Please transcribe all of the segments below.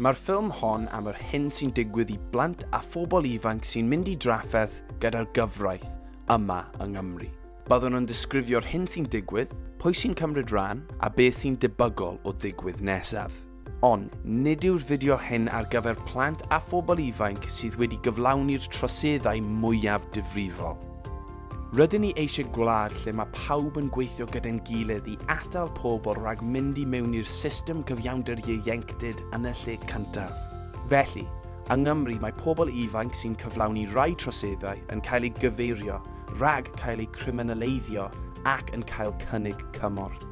Mae'r ffilm hon am yr hyn sy'n digwydd i blant a phobl ifanc sy'n mynd i drafferth gyda'r gyfraith yma yng Nghymru. Byddwn yn disgrifio'r hyn sy'n digwydd, pwy sy'n cymryd rhan, a beth sy'n debygol o ddigwydd nesaf. Ond nid yw'r fideo hyn ar gyfer plant a phobl ifanc sydd wedi gyflawni'r troseddau mwyaf difrifol. Rydyn ni eisiau gwlad lle mae pawb yn gweithio gyda'n gilydd i atal pobl rhag mynd i mewn i'r system cyfiawnder ieuenctid yn y lle cyntaf. Felly, yng Nghymru mae pobl ifanc sy'n cyflawni rhai troseddau yn cael eu gyfeirio rhag cael eu criminaleiddio ac yn cael cynnig cymorth.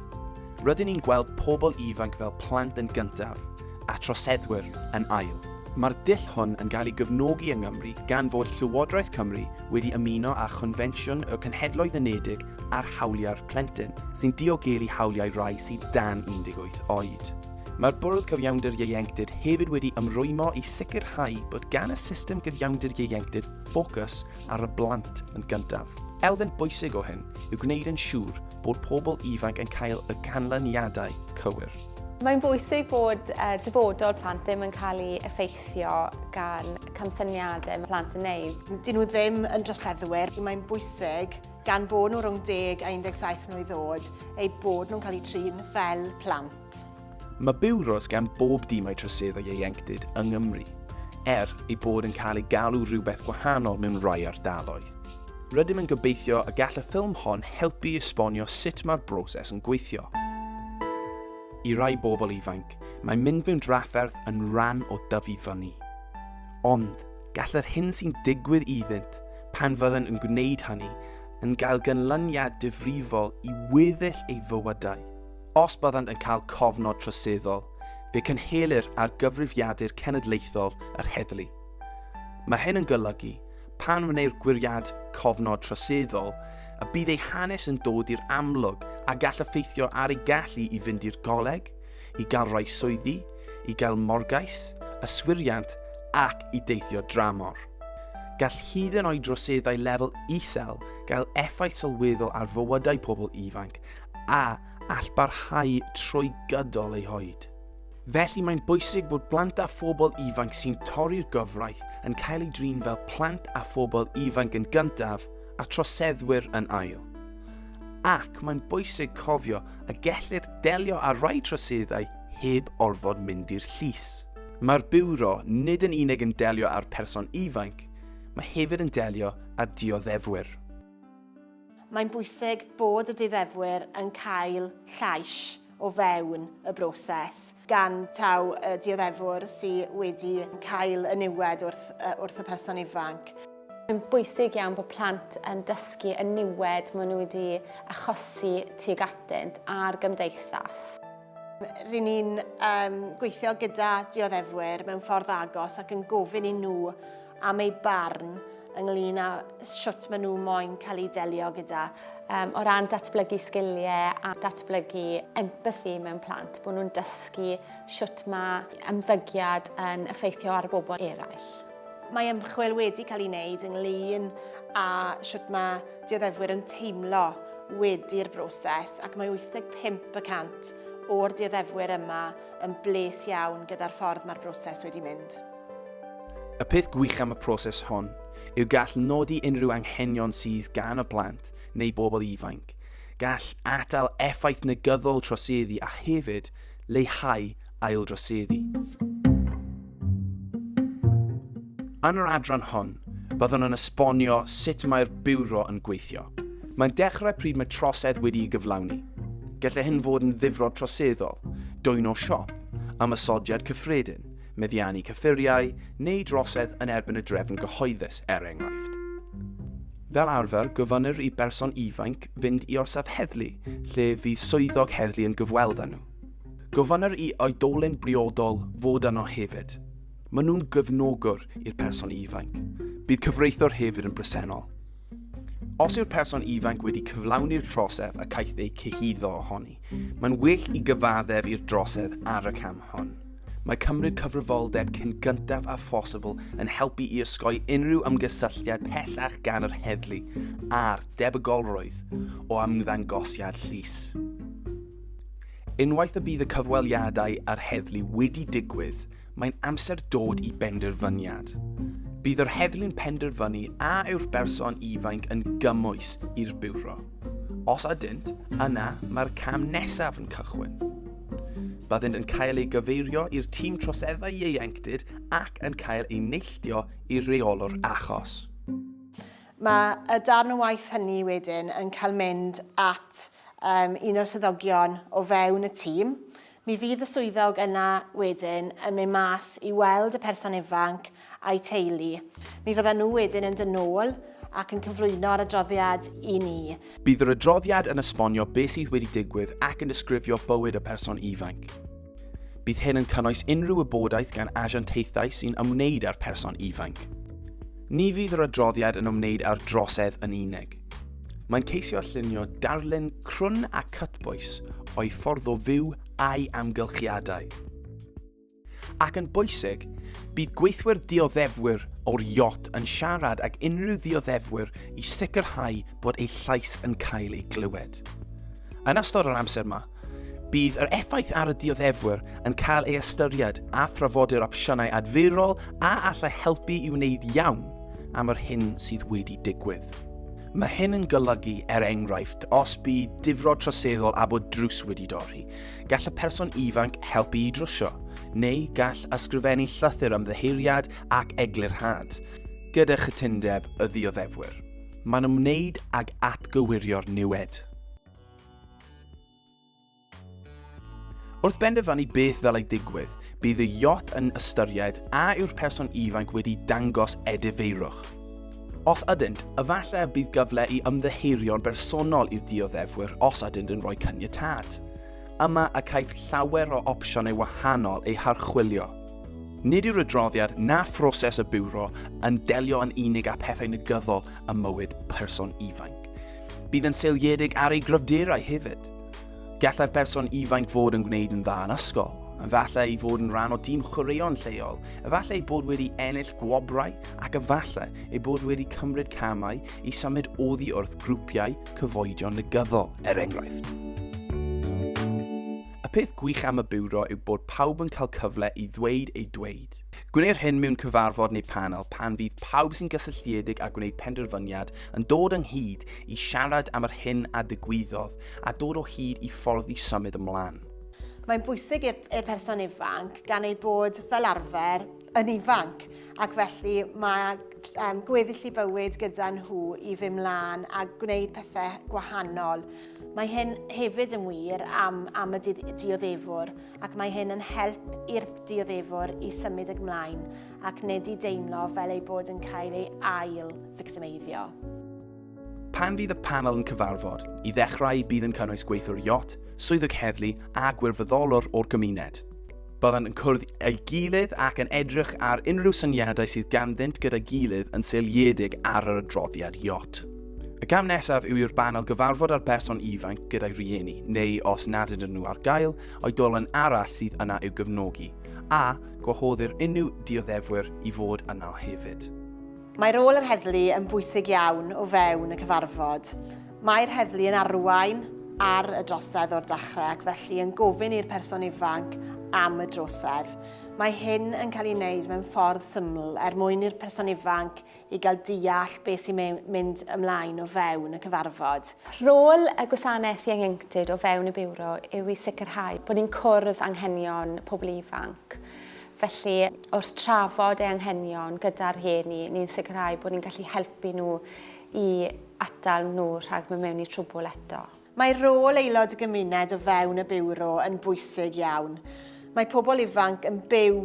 Rydyn ni'n gweld pobl ifanc fel plant yn gyntaf a troseddwyr yn ail. Mae'r dull hwn yn cael ei gefnogi yng Nghymru gan fod Llywodraeth Cymru wedi ymuno â Chonfensiwn y Cenhedloedd Unedig ar Hawliau'r Plentyn, sy'n diogelu hawliau rhai sydd dan 18 oed. Mae'r Bwrdd Cyfiawnder Ieuenctid hefyd wedi ymrwymo i sicrhau bod gan y system gyfiawnder ieuenctid ffocws ar y blant yn gyntaf. Elfen bwysig o hyn yw gwneud yn siŵr bod pobl ifanc yn cael y canlyniadau cywir. Mae'n bwysig bod dyfodol plant ddim yn cael ei effeithio. effeithio gan camsyniadau mae plant yn neud. Dyn nhw ddim yn droseddwyr, mae'n bwysig gan bod nhw rhwng 10 a 17 mlwydd oed eu bod nhw'n cael eu trin fel plant. Mae biwros gan bob dimau troseddau ieuenctid yng Nghymru, er ei bod yn cael ei galw rhywbeth gwahanol mewn rhai ardaloedd. Rydym yn gobeithio y gall y ffilm hon helpu i esbonio sut mae'r broses yn gweithio. I rai bobl ifanc, Mae mynd mewn drafferth yn rhan o dyfu fyny. Ond gall yr hyn sy'n digwydd iddynt pan fydden yn gwneud hynny yn gael gynlyniad difrifol i weddill ei fywydau. Os byddant yn cael cofnod troseddol, fe cynhelir ar gyfrifiadur cenedlaethol yr heddlu. Mae hyn yn golygu, pan wneir gwiriad cofnod troseddol, y bydd ei hanes yn dod i'r amlwg a gall effeithio ar ei gallu i fynd i'r goleg, i gael rhoi swyddi, i gael morgais, yswiriant ac i deithio dramor. Gall hyd yn oed droseddau lefel isel gael effaith sylweddol ar fywydau pobl ifanc a all barhau trwy gydol eu hoed. Felly mae'n bwysig bod plant a phobl ifanc sy'n torri'r gyfraith yn cael eu drin fel plant a phobl ifanc yn gyntaf a troseddwyr yn ail. Ac mae'n bwysig cofio a gellir delio â rhai troseddau heb orfod mynd i'r llys. Mae'r Biwro nid yn unig yn delio â'r person ifanc, mae hefyd yn delio â dioddefwyr. Mae'n bwysig bod y dioddefwyr yn cael llais o fewn y broses. gan taw y dioddefwr sy wedi cael y niwed wrth, wrth y person ifanc. Mae'n bwysig iawn bod plant yn dysgu y niwed maen nhw wedi achosi tuag atynt a'r gymdeithas. Ry'n ni'n um, gweithio gyda dioddefwyr mewn ffordd agos ac yn gofyn i nhw am eu barn ynglyn â shwt maen nhw moyn cael eu delio gyda um, o ran datblygu sgiliau a datblygu empathi mewn plant, bod nhw'n dysgu sut mae ymddygiad yn effeithio ar bobl eraill. Mae ymchwil wedi cael ei wneud ynglyn â sut mae dioddefwyr yn teimlo wedi'r broses ac mae 85% o'r dioddefwyr yma yn bles iawn gyda'r ffordd mae'r broses wedi mynd. Y peth gwych am y proses hon yw gall nodi unrhyw anghenion sydd gan y plant neu bobl ifanc, gall atal effaith negyddol troseddu a hefyd leihau aildroseddu. Yn yr adran hon, byddwn yn esbonio sut mae'r Biwro yn gweithio. Mae'n dechrau pryd mae trosedd wedi'i gyflawni. Gallai hyn fod yn ddifrod troseddol, dwyno siop, ymosodiad cyffredin, meddiannu cyffuriau neu drosedd yn erbyn y drefn gyhoeddus, er enghraifft. Fel arfer, gofynnir i berson ifainc fynd i orsaf heddlu lle fydd swyddog heddlu yn gyfweld â nhw. Gofynnir i oedolyn briodol fod yno hefyd. Maen nhw'n gefnogwr i'r person ifainc. Bydd cyfreithiwr hefyd yn bresennol. Os yw'r person ifainc wedi cyflawni'r trosedd a caeth ei cyhuddo ohoni, mae'n well i gyfaddef i'r drosedd ar y cam hon. Mae cymryd cyfrifoldeb cyn gyntaf a phosibl yn helpu i osgoi unrhyw ymgysylltiad pellach gan yr heddlu a'r debygolrwydd o ymddangosiad llys. Unwaith y bydd y cyfweliadau a'r heddlu wedi digwydd, mae'n amser dod i benderfyniad. Bydd yr heddlu'n penderfynu a yw'r berson ifainc yn gymwys i'r biwro. Os ydynt, yna mae'r cam nesaf yn cychwyn. Byddent yn cael ei gyfeirio i'r tîm troseddau ieuenctid ac yn cael ei neilltio i reolwr achos. Mae y darn o waith hynny wedyn yn cael mynd at um, un o'r swyddogion o fewn y tîm. Mi fydd y swyddog yna wedyn yn mynd mas i weld y person ifanc a'u teulu. Mi fyddan nhw wedyn yn dod nôl ac yn cyflwyno'r adroddiad i ni. Bydd yr adroddiad yn esbonio beth sydd wedi digwydd ac yn disgrifio bywyd y person ifanc. Bydd hyn yn cynnwys unrhyw wybodaeth gan asiantaethau sy'n ymwneud â'r person ifanc. Ni fydd yr adroddiad yn ymwneud â'r drosedd yn unig. Mae'n ceisio llunio darlun crwn a cytbwys o'i ffordd o fyw a'i amgylchiadau. Ac yn bwysig, bydd gweithwyr dioddefwyr o'r iot yn siarad ag unrhyw ddioddefwyr i sicrhau bod eu llais yn cael ei glywed. Yn ystod yr amser yma, bydd yr effaith ar y dioddefwyr yn cael ei ystyried a thrafodir opsiynau adfyrol a allai helpu i wneud iawn am yr hyn sydd wedi digwydd. Mae hyn yn golygu, er enghraifft, os bydd difrod troseddol a bod drws wedi dorri, Gall y person ifanc helpu i drwsio, neu gall ysgrifennu llythyr am ddyheiriad ac eglurhad, gyda chytundeb y ddioddefwyr. Mae'n ymwneud ag atgywirio'r niwed. Wrth benderfynu beth ddylai digwydd, bydd y yacht yn ystyried a yw'r person ifanc wedi dangos edifeirwch. Os ydynt, efallai y bydd gyfle i ymddiheurio'n bersonol i'r dioddefwyr os ydynt yn rhoi caniatâd. Yma y caiff llawer o opsiynau wahanol eu harchwilio. Nid yw'r adroddiad na phroses y Biwro yn delio yn unig â phethau negyddol ym mywyd person ifanc. Bydd yn seiliedig ar ei gryfderau hefyd. Gallai'r person ifainc fod yn gwneud yn dda yn ysgol, efallai ei fod yn rhan o dîm chwaraeon lleol, efallai ei bod wedi ennill gwobrau ac efallai ei bod wedi cymryd camau i symud oddi wrth grwpiau cyfoedion negyddol, er enghraifft. Y peth gwych am y biwro yw bod pawb yn cael cyfle i ddweud ei dweud. Gwneir hyn mewn cyfarfod neu panel pan fydd pawb sy'n gysylltiedig â gwneud penderfyniad yn dod ynghyd i siarad am yr hyn a ddigwyddodd a dod o hyd i ffordd i symud ymlaen. Mae'n bwysig i'r person ifanc gan ei bod fel arfer yn ifanc ac felly mae um, gweddill i bywyd gyda nhw i fy mlaen a gwneud pethau gwahanol. Mae hyn hefyd yn wir am, am y dioddefwr ac mae hyn yn help i'r dioddefwr i symud ag mlaen ac nid i deimlo fel ei bod yn cael ei ail fictimeiddio. Pan fydd y panel yn cyfarfod, i ddechrau bydd yn cynnwys gweithiwr iot, swyddog heddlu a gwirfoddolwr o'r gymuned. Byddant yn cwrdd ei gilydd ac yn edrych ar unrhyw syniadau sydd ganddynt gyda'i gilydd yn seiliedig ar yr adroddiad iot. Y cam nesaf yw i'r banel gyfarfod â'r person ifanc gyda'i rieni, neu os nad ydyn nhw ar gael, oedolyn arall sydd yna i'w gefnogi, a gwahoddir unrhyw dioddefwyr i fod yno hefyd. Mae rôl yr heddlu yn bwysig iawn o fewn y cyfarfod. Mae'r heddlu yn arwain ar y drosedd o'r dechrau ac felly yn gofyn i'r person ifanc am y drosedd. Mae hyn yn cael ei wneud mewn ffordd syml er mwyn i'r person ifanc i gael deall beth sy'n mynd ymlaen o fewn y cyfarfod. Rôl y Gwasanaeth Ieuenctid o fewn y Biwro yw i sicrhau bod ni'n cwrdd anghenion pobl ifanc. Felly, wrth trafod eu anghenion gyda'r rhieni, ni'n sicrhau bod ni'n gallu helpu nhw i atal nhw rhag mynd mewn i trwbwl eto. Mae rôl aelod y gymuned o fewn y Biwro yn bwysig iawn. Mae pobl ifanc yn byw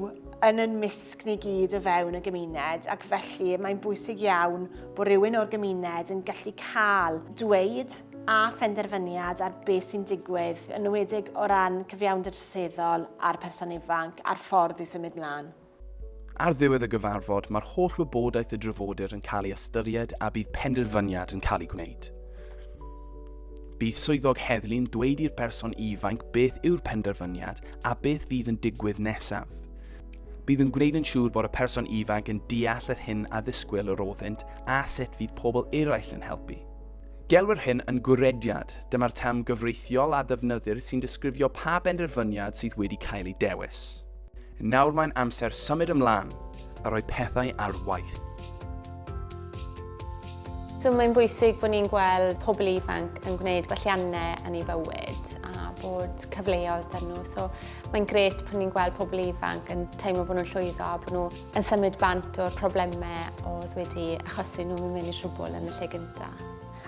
yn yn mysg ni gyd o fewn y gymuned ac felly mae'n bwysig iawn bod rhywun o'r gymuned yn gallu cael dweud a phenderfyniad ar beth sy'n digwydd, yn enwedig o ran cyfiawnder troseddol a'r person ifanc a'r ffordd i symud mlaen. Ar ddiwedd y gyfarfod, mae'r holl wybodaeth y drafodir yn cael ei ystyried a bydd penderfyniad yn cael ei gwneud. Bydd swyddog heddlu'n dweud i'r person ifanc beth yw'r penderfyniad a beth fydd yn digwydd nesaf. Bydd yn gwneud yn siŵr bod y person ifanc yn deall yr hyn a ddisgwyl yr oddynt a sut fydd pobl eraill yn helpu. Gelwir hyn yn gwrediad, dyma'r term gyfreithiol a ddefnyddir sy'n disgrifio pa benderfyniad sydd wedi cael ei dewis. Nawr mae'n amser symud ymlaen a rhoi pethau ar waith. So mae'n bwysig bod ni'n gweld pobl ifanc yn gwneud gwelliannau yn ei fywyd a bod cyfleoedd dyn nhw. So mae'n gret bod ni'n gweld pobl ifanc yn teimlo bod nhw'n llwyddo a bod nhw yn symud bant o'r problemau oedd wedi achosi nhw mynd mewn i trwbl yn y lle gyntaf.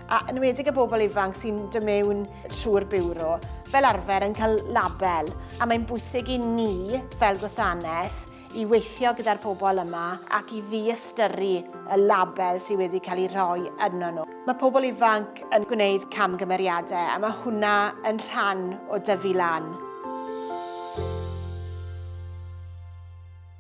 A yn ymwedig y bobl ifanc sy'n dod mewn trwy'r biwro, fel arfer yn cael label, a mae'n bwysig i ni fel gwasanaeth i weithio gyda'r pobl yma ac i ddiystyru y label sydd wedi cael ei rhoi yno nhw. Mae pobl ifanc yn gwneud camgymeriadau a mae hwnna yn rhan o dyfu lan.